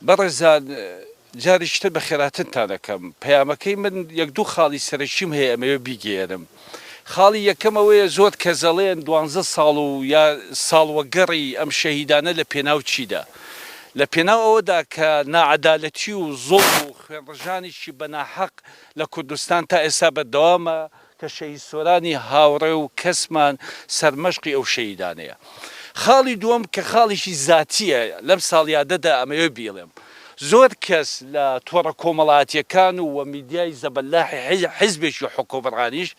بەڕێزان جارێکی تر بەخێراتنتان ئەکەم، پەیامەکەی من یەک دوو خاڵی سەرەکیم هەیە ئەمەوێ بیگەیەنم. خاڵی یەکەم ئەوەیە زۆر کەس ئەڵێن دوانزە ساڵ و یا ساڵوەگەڕی ئەم شەهیدانە لە پێناو چیدا؟ لە پێناو ئەوەدا کە ناعەدالەتی و زوڵم و خوێنڕژانێکی بە ناحەق لە کوردستان تا ئێستا بەردەوامە کە شەهید سۆرانی هاوڕێ و کەسمان سەرمەشقی ئەو شەهیدانەیە. خاڵی دووەم کە خاڵێکی زاتییە لەم ساڵیادەدا ئەمەوێ بیڵێم، زۆر کەس لە تۆڕە کۆمەڵاتیەکان و و میدیای زەبەلاحی حیزبێکی حوکمڕانیش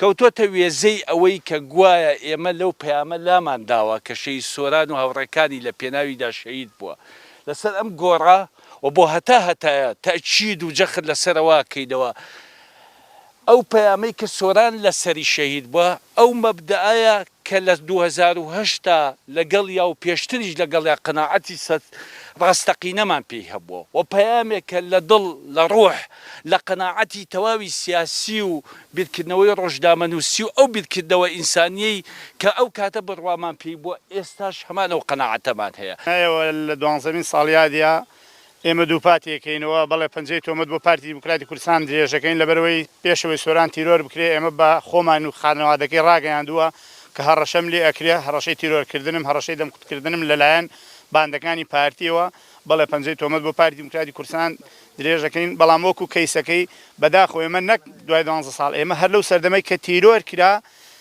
کەوتۆتە وێزەی ئەوەی کە گوایە ئێمە لەو پەیامە لامان داوە کە شەهید سۆران و هاوڕێکانی لە پێناویدا شەهید بووە لەسەر ئەم گۆڕە و بۆ هەتا هەتایە تەئکید و جەخت لەسەرەوە کەینەوە ئەو پەیامەی کە سۆران لەسەری شەهید بووە ئەو مەبدەئەیە کە لە دوو هەزار و هەشت دا لەگەڵیا و پێشتریش لەگەڵیا قەناعەتی سەد ڕاستەقینەمان پێی هەبووە و پەیامێکە لە دڵ، لە ڕوح، لە قەناعەتی تەواوی سیاسی و بیرکردنەوەی ڕۆژنامەنووسی و ئەو بیرکردنەوە ئینسانییەی کە ئەو کاتە بڕوامان پێی بووە، ئێستاش هەمان ئەو قەناعەتەمان هەیە. نایەوە لە دوانزەمین ساڵیادیا ئێمە دووپاتیەکەینەوە، بەڵێ پەنجەی تۆمەت بۆ پارتی دیموکراتی کوردستان درێژدەکەین، لەبەرئەوەی پێشەوەی سۆران تیرۆر بکرێت، ئێمە بە خۆمان و خانەوادەکەی راگەیاندووە کە هەڕەشەم لێ ئەکرێت، هەڕەشەی تیرۆرکردنم، هەڕەشەی دەمکوتکردنم لەلایەن باندەکانی پارتیەوە، بەڵێ پەنجەی تۆمەت بۆ پارتی دیموکراتی کوردستان درێژدەکەین، بەڵام وەکو کەیسەکەی بەداخەوە ئێمە نەک دوای دوانزە ساڵ، ئێمە هەر لەو سەردەمەی کە تیرۆرکرا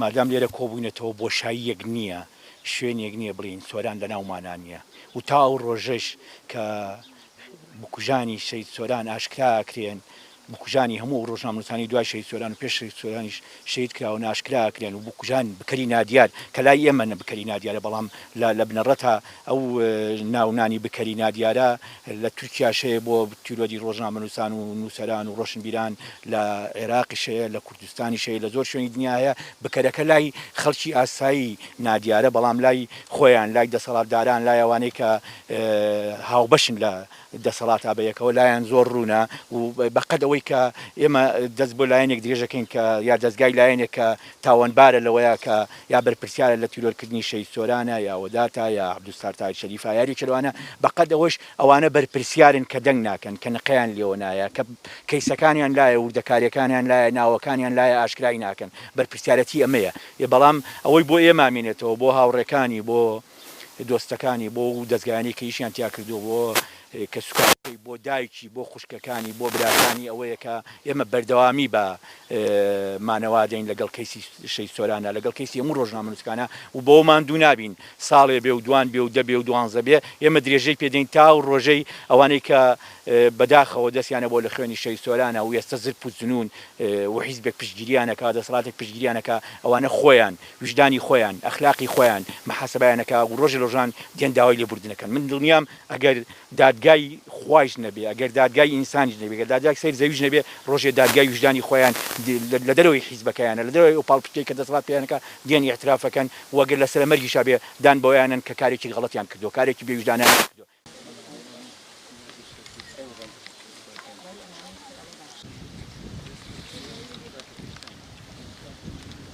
مادام لێرە کۆبووینەتەوە بۆشاییەک نییە، شوێنێک نییە بڵێین سۆران لەناومانا نییە و تا ئەو ڕۆژەش کە بکوژانی شەهید سۆران ئاشکرا ئەکرێن، بکوژانی هەموو ئەو ڕۆژنامەنووسانەی دوای شەهید سۆران و پێش شەهید سۆرانیش شەهید کراون ئاشکرا ئەکرێن و بکوژان بکەری نادیار کە لای ئێمە بکەری نادیارە بەڵام لە بنەڕەتا ئەو ناونانی بکەری نادیارە لە تورکیاش هەیە بۆ تیرۆری ڕۆژنامەنووسان و نووسەران و ڕۆشنبیران لە عێراقیش هەیە لە دزستانی شەی لە زۆر شوێنی دنیا هەیە، بکەرەکە لای خەڵکی ئاسایی نادیارە، بەڵام لای خۆیان، لای دەسەڵاتداران، لای ئەوانەی کە هاوبەشن لە دەسەڵاتا بە یەکەوە لایان زۆر ڕوونە و بە قەد ئەوەی کە ئێمە دەست بۆ لایەنێک درێژەکەین کە یا دەزگای لایەنێک کە تاوانبارە لەوەیا کە یا بەرپرسیارە لە تیرۆرکردنی شەهید سۆرانە یا وەداتە یا عەبدولستار تاهیر شەریفە یا یاریەکی لەوانە بە قەد ئەوەش ئەوانە بەرپرسیارن کە دەنگ ناکەن، کە نقەیان لێوە نایە، کە کەیسەکانیان لایە، وردەکاریەکانیان لایە، ناوەکانیان لایە ئاشکرای ناکەن، بەرپرسیارەتی ئەمەیە. ئێ بەڵام ئەوەی بۆ ئێمە مێنێتەوە، بۆ هاوڕێکانی، بۆ دۆستەکانی، بۆ ئەو دەزگایانەی کە ئیشیان تیا کردووە، بۆ کەسوکارەکەی، بۆ دایکی، بۆ خوشکەکانی، بۆ براکانی ئەوەیە کە ئێمە بەردەوامی بە مانەوە دەین لەگەڵ کەیسی شەهید سۆراندا، لەگەڵ کەیسی هەموو ڕۆژنامەنووسکانە و بەوەمان دوو نابین ساڵێ بێ و دوان بێ و دە بێ و دوانزە بێ، ئێمە درێژەی پێ دەین تا ئەو ڕۆژەی ئەوانەی کە بە داخەوە دەستیان ئەبووە لە خوێنی شەهید سۆرانە و ئێستە زرپ و زنوون و حیزبێک پشتگیریان ئەکا، دەسەڵاتێک پشتگیریان ئەکا، ئەوانە خۆیان، ویژدانی خۆیان، ئەخلاقی خۆیان محاسبەیان ئەکا و ڕۆژێ لە ڕۆژان دێن داوای لێبوردن ئەکەن. من دڵنیام ئەگەر دادگای خوایش نەبێ، ئەگەر دادگای ئینسانیش نەبێ، ئەگەر دادگای سەیر زەویش نەبێ، ڕۆژێ دادگای ویژدانی خۆیان لە دەرەوەی حیزبەکەیانە، لە دەرەوەی ئەو پاڵپشتیەی کە دەسەڵات پێیان ئەکا، دێن ئیعتراف ئەکەن. و گەر لە سەرە مەرگیشا بێ دان بەوەیا نەن کە کارێکی غەڵەتیان کردووە، کارێکی بێ ویژدانانەیان کردووە.